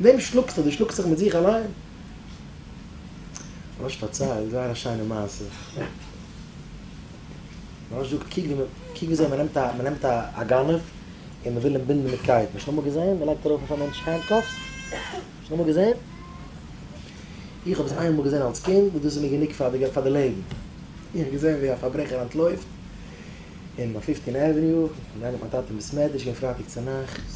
וועם שלאגסטו? דו שלאגסט זיך מיט זיך אליין? ר' אש פארציילט זייער א שיינע מעשה. ר' אש זאגט קוק ווי קוק וויאזוי מ'נעמט א מ'נעמט א א גנב און מ'וויל אים בינדן מיט קייטן. האסט אמאל געזען? מ'לייגט ארויף אויף א מענטש הענדקאפס. האסט אמאל געזען? איך האב עס איין מאל געזען אלס קינד און דאס איז מיר גענוג פאר די פאר די לעבן. איך האב געזען ווי א פארברעכער אנטלויפט אין פיפטין עוועניו, געגאנגען מיט מיין טאטע אין בית מדרש, געווען פרייטאג צונאכטס,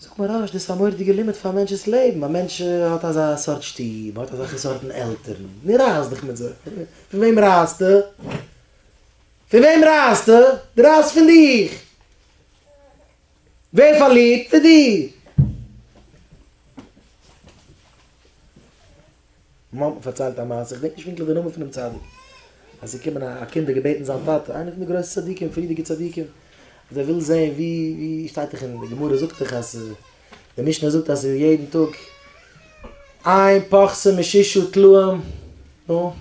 זאגט מוהראש, דאס איז א מורא'דיגע לימוד פאר א מענטש'ס לעבן, א מענטש האט אזא סארט שטוב, מען האט אזעלכע סארטן עלטערן, נו רייס דיך מיט זיי, פון וועם רייסטו? פון וועם רייסטו? דו רייסט פון דיך! ווער פארלירט? דו! מיר האט מען פארציילט א מעשה, כ'דענק נישט פונקטליך די נאמען פונעם צדיק, אז עס איז געקומען א קינד און געבעטן זיין טאטע, איינע פון די גרויסע צדיקים, פריערדיגע צדיקים, אז ער וויל זען ווי, ווי שטייט דאך אין די גמרא זאגט דאך אז די משנה זאגט אז יעדן טאג איין פרסה משישה טלאים, נו,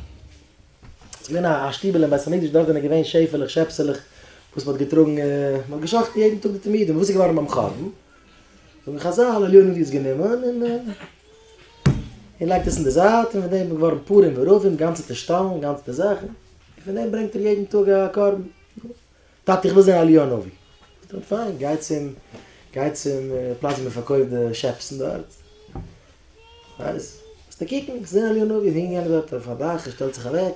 עס איז געווען א שטיבעל אין בית המקדש דארט זענען געווען שעפעלעך שעפסעלעך וואס מען האט געטראגן, מען האט געשחט'ן יעדן טאג די תמידים, וואס איז געווארן ביים חורבן? זאגן חזל עליון ווי עס גענומען און און לייגט עס אין די זייט און פון דעם איז געווארן פורים ורבים גאנצע טישטאלן גאנצעטע זאכן און פון דעם ברענגט ער יעדן טאג א קרבן טאטע איך וויל זען עליון אבי זאגט אים פיין גיי צום גיי צום פלאץ ווי מען פארקויפט די שעפסן דארט ווייס וועסטו קוקן איך זע עליון אבי הינגען דארט אויף א דאך ער שטעלט זיך אוועק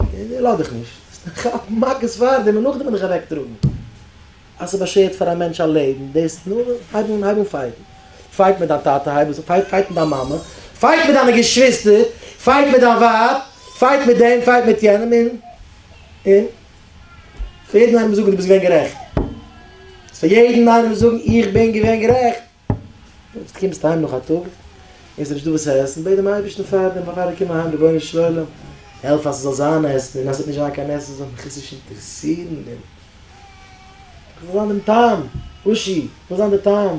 איך לאך דיך נישט, האסט נישט געכאפט מכות פאר דעם און נאכדעם בין איך אוועקטראגן? אז ס'באשערט פאר א מענטש א לעבן, דאס נו, הייב אן, הייב אן פייטן. פייט מיט דיין טאטע, הייב עס אן, פייט, פייט מיט דיין מאמע, פייט מיט דיינע געשוויסטער, פייט מיט דיין ווייב, פייט מיט דעם, פייט מיט יענעם, און, און, פאר יעדן איינעם זאגן דו ביסט געווען גערעכט. פאר יעדן איינעם זאגן איך בין געווען גערעכט. קומסט אהיים נאך א טאג און ס'נישט דא וואס צו עסן, בעט דעם אייבערשטן פאר דעם פארפאלער קום אהיים רבונו של עולם העלף אז ס'זאל זיין עסן און אז ס'וועט נישט זיין קיין עסן זאל מיך עס נישט אינטערעסירן און כ'זאל זיין דעם תם, השי ת, כ'זאל זיין דער תם.